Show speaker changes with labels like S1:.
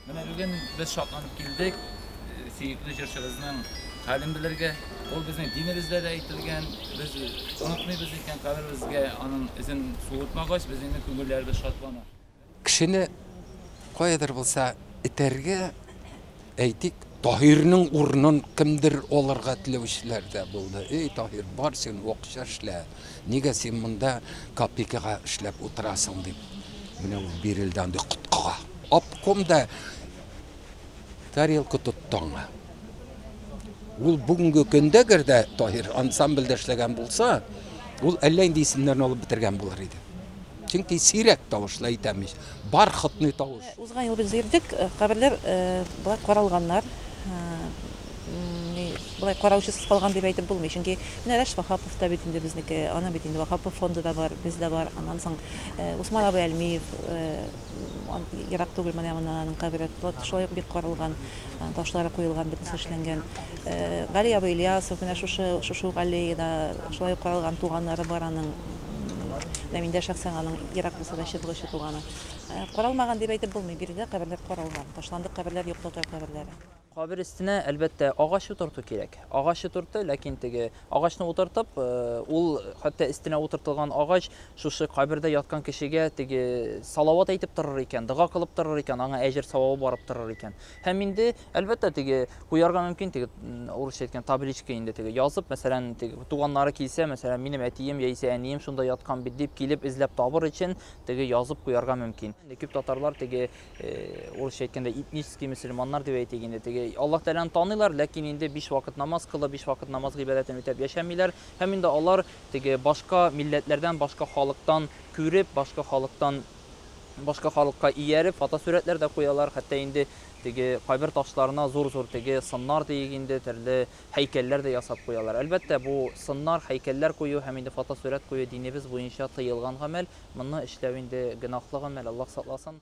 S1: Менә бүген без шатланып килдек, сөекле җырчыбызның хәлен белергә. Ул безнең динебездә дә әйтелгән, без онытмыйбыз икән, каберебезгә аның эзен суытмагач, безнең күңелләребез шатлана. Кешене
S2: каядыр булса этәргә, әйтик, Таһирның урынын кемдер алырга теләүчеләр дә булды. Эй, Таһир, бар син, акча эшлә. Нигә син монда копейкага эшләп утырасың дип, менә ул бирелде андый коткыга. Обком да тарелка тотты аңа. Ул бүгенге көндә гер дә Таһир ансамбльдә эшләгән булса, ул әллә инде исемнәрен алып бетергән булыр иде. Чөнки сирәк тавышлы әйтәм мич, бархатный тавыш. Узган ел без йөрдек,
S3: каберләр болай каралганнар. Болай караучысыз калган дип әйтеп булмый, чөнки менә Рәш Ваһапов та бит инде безнеке, аның бит инде Ваһапов фонды да бар, без дә бар. Аннан соң Усман абый Әлмиев, ерак түгел менә моннан аның кабере, шулай ук бик каралган, ташлары куелган, бөтенесе эшләнгән. Гали абый Ильясов менә шушы, шушы ук аллеяда шулай ук каралган, туганнары бар аның. Ләминдә шәхсән аның ерак булса да чытлы очы туганы. Каралмаган дип әйтеп булмый, биредә каберләр каралган. Ташландык каберләр юк татар каберләре. Кабер өстенә,
S4: әлбәттә, агач утырту кирәк. Агач утыртты, ләкин теге агачны утыртып, ул хәтта өстенә утыртылган агач шушы кабердә яткан кешегә теге салават әйтеп торыр икән, дога кылып торыр икән, аңа әҗер-савабы барып торыр икән. Һәм инде, әлбәттә, теге куярга мөмкин, теге урысча әйткән табличка инде теге язып, мәсәлән, теге туганнары килсә, мәсәлән, минем әтием яисә әнием шунда яткан бит дип килеп эзләп табыр өчен теге язып куярга мөмкин. Инде күп татарлар теге э, урысча әйткәндә этнический мөселманнар дип әйтик инде, теге Аллаһ Тәгаләне таныйлар, ләкин инде биш вакыт намаз кылып, биш вакыт намаз гыйбадәтен үтәп яшәмиләр. Һәм инде алар теге башка милләтләрдән, башка халыктан күреп, башка халыктан башка халыкка ияреп, фотосурәтләр дә куялар. Хәтта инде теге кайбер ташларына зур-зур теге сыннар диик инде, төрле һәйкәлләр дә ясап куялар. Әлбәттә, бу сыннар, һәйкәлләр кую һәм инде фотосурәт кую динебез буенча тыелган гамәл. Моны эшләү инде гөнаһлы гамәл, Аллаһ сакласын.